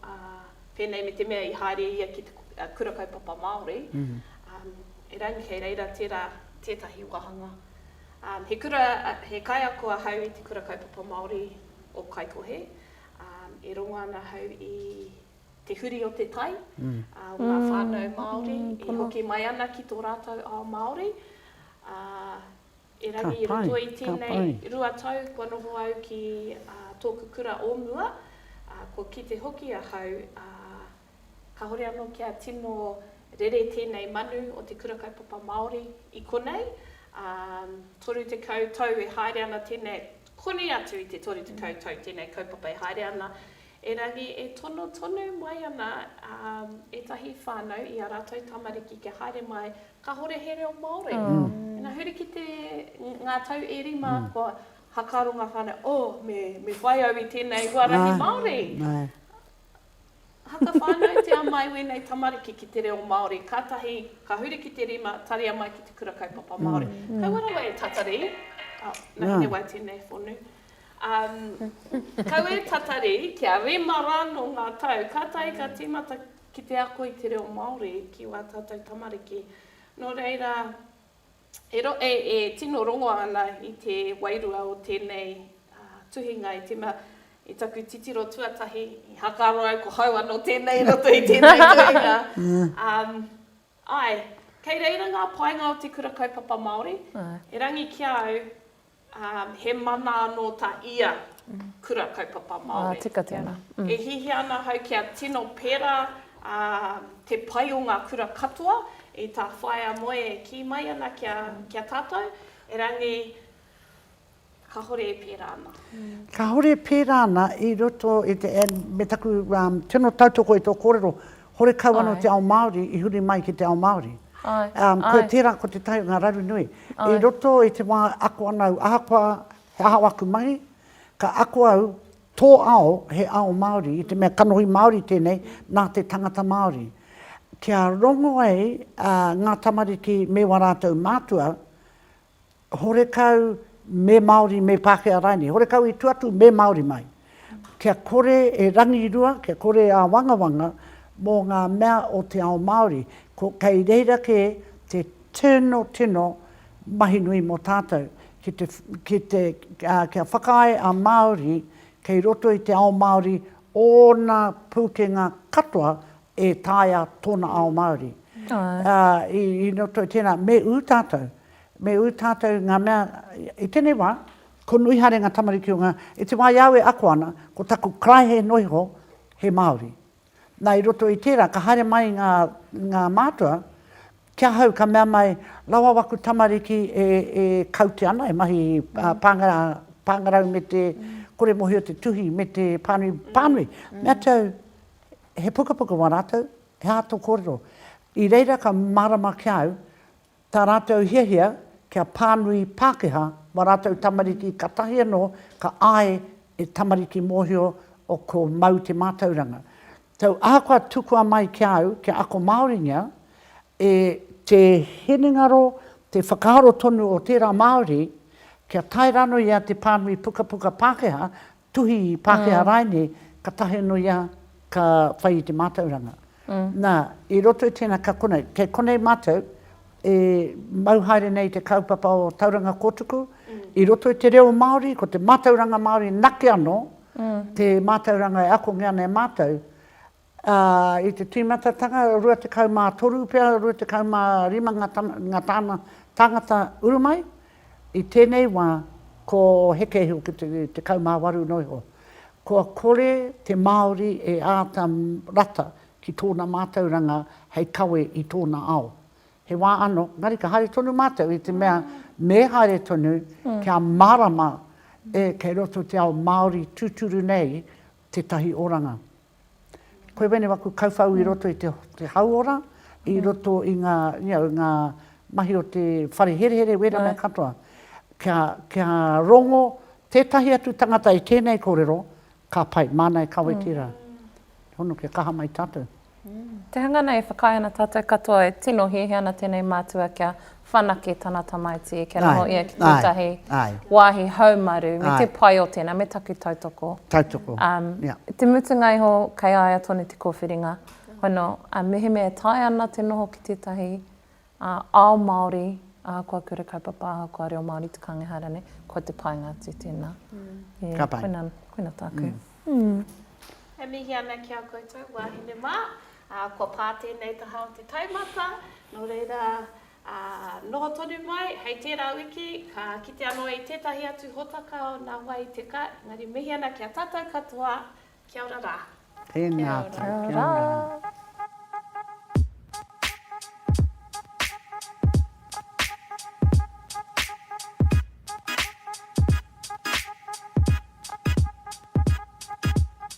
pēnei me te mea i haere ia ki te Kura Kaupapa Māori, erangi kei reira tērā tētahi wāhanga. He kura, he kaiako ahau i te Kura Kaupapa Māori o Kaikohe, e rongo ana ahau i te huri o te tai, o ngā whānau Māori, e hoki mai ana ki tō rātou ao Māori, ā, Erangi i roto i tēnei rua tau kua noho au ki tōku kura o mua, kua kite hoki ahau, kāore anō kia tino rere tēnei manu o te Kura Kaupapa Māori i konei, 30 tau e haere ana tēnei, koni atu i te 30 tau tēnei kaupapa e haere ana, Erangi e tono tonu mai ana ētahi whānau i ā rātou tamariki kia haere mai kāhore he reo Māori. Ina huri ki te, ngā tau e rima kua hakaaro ngā whānau, oh, me, me whai au i tēnei huarahi Māori. Haka whānautia mai wēnei tamariki ki te reo Māori, kātahi ka huri ki te rima, taria mai ki te kura kaupapa Māori. Kaua rawa e tatari, oh, nā, he wai tēnei whonu. Kau e tatari kia rima rānō ngā tau, ka tae ka tīmata ki te ako i te reo Māori ki wā tātou tamariki. Nō reira, e tino rongo ana i te wairua o tēnei tuhinga i tīmata i taku titiro tuatahi, i hakaaro au ko hau anō tēnei i roto i tēnei tuhinga. Āe, kei reira ngā painga o te Kura Kaupapa Māori, erangi ki a au, Ā, he mana anō tā ia Kura Kaupapa Māori. Ā, tika tēnā. E hiahia ana ahau kia tino pērā te pai o ngā kura katoa i tā Whaea Moe e kī mai ana kia tātou, erangi kāore e pērā ana. Kāore e pērā ana i roto i te, me taku tino tautoko i tō kōrero, Horekau ano te ao Maori i huri mai ki te ao Maori. Koe tera ko te tai o nga raru nui. I roto i te wa e ako ana au, ahakoa he aha aku mahi, ka ako au, to ao he ao Maori i te mea kanohi Maori tenei na te tangata Maori. Kia rongo ai nga tamariki me wa ratou matua, horekau me Māori, me Pākehā rānei, horekau i tua atu me Māori mai. Kia kore e rangirua, kia kore e āwangawanga mō ngā mea o te ao Māori. Ko, kei reira kē te tino, tino mahi nui mō tātou, ki te, ki te, kia whakaae a Māori kei roto i te ao Māori ōna pūkenga katoa e taea tōna ao Māori. I roto i tēnā, me ū tātou, me ū tātou ngā mea, i tēnei wā, ko nui haere ngā tamariki o ngā, i te wā i a au e ako ana, ko taku karaehe noa iho, he Māori. Nā, i roto i tērā, ka haere mai ngā, ngā mātua, ki ahau ka mea mai, rawa waku tamariki e, e kaute ana, e mahi pāngarau, pāngarau me te kore mōhio te tuhi me te pānui, pānui. Mea atu au, He pukapuka wā rātou, he aha tō kōrero? I reira ka mārama ki a au tā rātou hiahia kia pānui Pākehā wā rātou tamariki katahi anō ka āe e tamariki mōhio o ko Mau te mātauranga. Tau ahakoa tukua mai ki a au kia ako Māoringia, e. Te hinengaro, te whakaaro tonu o tērā Māori kia tae rānō ia te pānui pukapuka Pākehā Tuhi Pākehā rāinei, ka tahi anō ia ka whai i te mātauranga. Nā, i roto i tēnā ka konei, kei konei mātou e mau haere nei i te kaupapa o Tauranga Kōtuku, i roto i te reo Māori, ko te mātauranga Māori nake anō te mātauranga e akongia ana e mātou, Ā, i te tīmatatanga, rua tekau mā toru pea, rua tekau mā rima ngā tama, ngā tāna tāngata uru mai, i tēnei wā, ko Heke iho ki te tekau mā waru noa iho. Kua kore te Māori e āta rata ki tōna mātauranga hei kawe i tōna ao. He wā anō, engari ka haere tonu mātou i te mea me haere tonu kia mārama e kei roto te ao Māori tūturu nei tētahi oranga. Koe wēnei waku kauwhau i roto i te te hauora, i roto i ngā, you know, ngā mahi o te whare herehere, wēnā mea katoa. Kia, kia rongo tētahi atu tangata i tēnei kōrero, ka pai, māna e kawe tērā. He hono kia kaha mai tātou. Te hanga nei e whakaae ana tātou katoa e tino hiahia ana tēnei mātua kia whanake tana tamaiti kia noho ia ki tētahi wāhi haumaru me te pai o tēnā, me taku tautoko. Tautoko, ia. I te mutunga iho kei a ia tonu te kōwhiringa, hono, mehemea e taea ana te noho ki tētahi ao Māori ahakoa kura kaupapa, ahakoa reo Māori te kānga ehara nei, kua te painga atu tēnā. Ka pai. Koina tāku. E mihi ana ki a koutou wāhine mā. Ā, kua pā tēnei taha o te taumata, nō reira, ā, noho tonu mai, hei tērā wiki, ka kite anō i tētahi atu hōtaka o nā wai i te ka, engari mihi ana ki a tātou katoa, kia ora rā. Tēnā atu, kia ora.